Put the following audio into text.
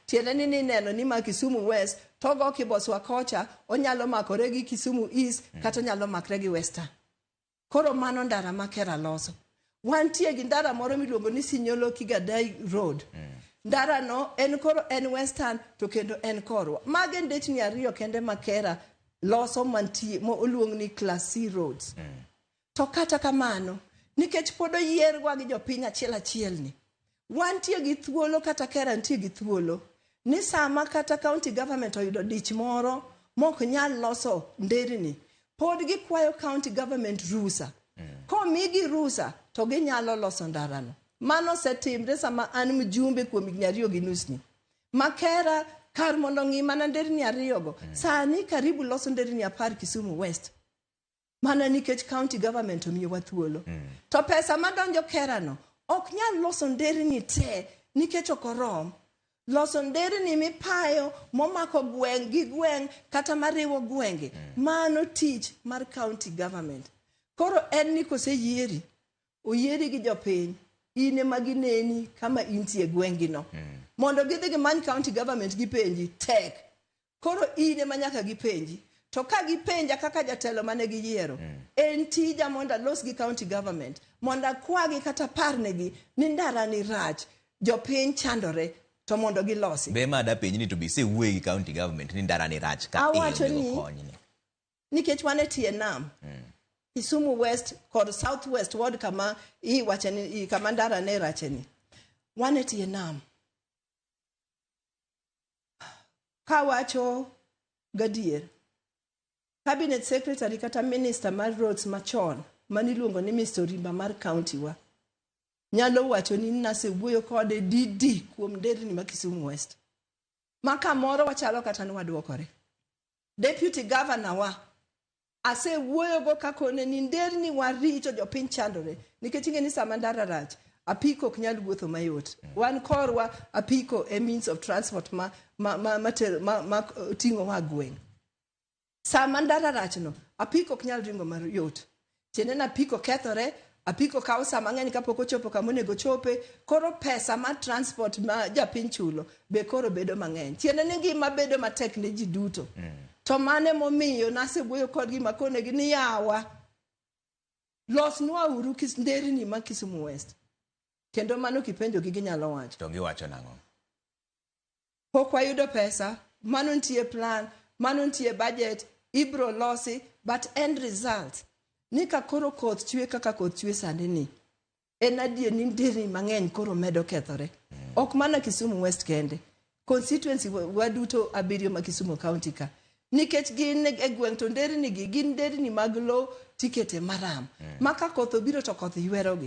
tiende ni nineno ni ma Kisumu West togo kiboswa kocha onyalo makore gi Kisumu East mm. kata onyalo makre gi Western. Koro mano ndara ma Kera loso. Wantie gi ndara moro miluongo ni Sinyolo Kigadai Road. Mm. Ndara no en koro en Western to kendo en korwa. Mage ndechni ariyo kende ma Kera loso mantie mo oluong ni Class C roads. Mm. To kata kamano, nikech pod oyierwa gi jopiny achiel achielni, wantie gi thuolo kata KERA nitie gi thuolo ni sama kata county government oyudo dich moro mok nyal loso nderni, pod gikwayo county government rusa. Komigi rusa to ginyalo loso ndarano. Mano osetimre sama an mjumbe kuom higni ariyo gi nusni. Ma KERA kar mondo ong'i mana nderni ariyogo, sani karibu loso nderni apar Kisumu West. mana nikech county government omiyowa thuolo mm. to pesa madonjo kerano ok nyal loso nderni te nikech ok orom loso nderni mipayo momako gweng' gi gweng' kata mariwo gwenge mm. mano tich mar county government koro en ni koseyieri oyieri gi jopiny in ema gineni kama intie gwengino mm. mondo gidhi gimany county government gipenji tek Koro in ema nyaka gipenji. To ka gipenja kaka jatelo mane giyiero, mm. en tija mondo alos gi county government, mondo akwagi kata parnegi ni ndara ni rach, jopiny chandore, to mondo gilosi. Be ma dapenji ni to be isewuoye gi county government ni ndara ni rach ka awacho ni nikech wan e tie nam mm. Kisumu West kod South West ward kama iwacheni kama ndara ne racheni wan e tie nam Kawacho gadier, cabinet secretary kata minister mar roads machon mane iluongo ni Mr. Orimba mar county wa nyalo wacho ni nasewuoyo kode didi kuom nderni ma Kisumu West ma kamoro wachalo kata ni wadwokore. Deputy governor wa Asewuoyogo kakone ni nderni wa richo jopiny chandore nikech ing'e ni sama ndara rach apiko ok nyal wuotho mayot. Mm. Wan korwa apiko e means of transport ma, ma, ma, ma, ma, ma ting'o wa gweng'. Sama ndara rachno apiko ok nyal ringo mayot. Tiende na apiko kethore, Apiko kawo saa mang'eny kapok ochopo kama onego ochope, koro pesa mar transport ma japiny chulo be koro bedo mang'eny. Tiende ni ngima bedo matek ne ji duto. Mm. To mane momiyo nasewuoyo kodgi makonegi ni yawa losnwa uru kis, nderni ma Kisumu West. Kendo mano kipenjogi ginyalo wacho. To giwacho nang'o? pok wayudo pesa mano nitie plan mano nitie budget ibro losi but end result ni ka koro koth chwe kaka koth chwe sani ni en adier ni nderni mang'eny koro medo kethore ok mana Kisumu West kende constituency wa- waduto abiriyo ma Kisumu County ka nikech gin e gweng' to nderni gi gin nderni mag low tikete maram ma ka koth obiro to koth ywerogi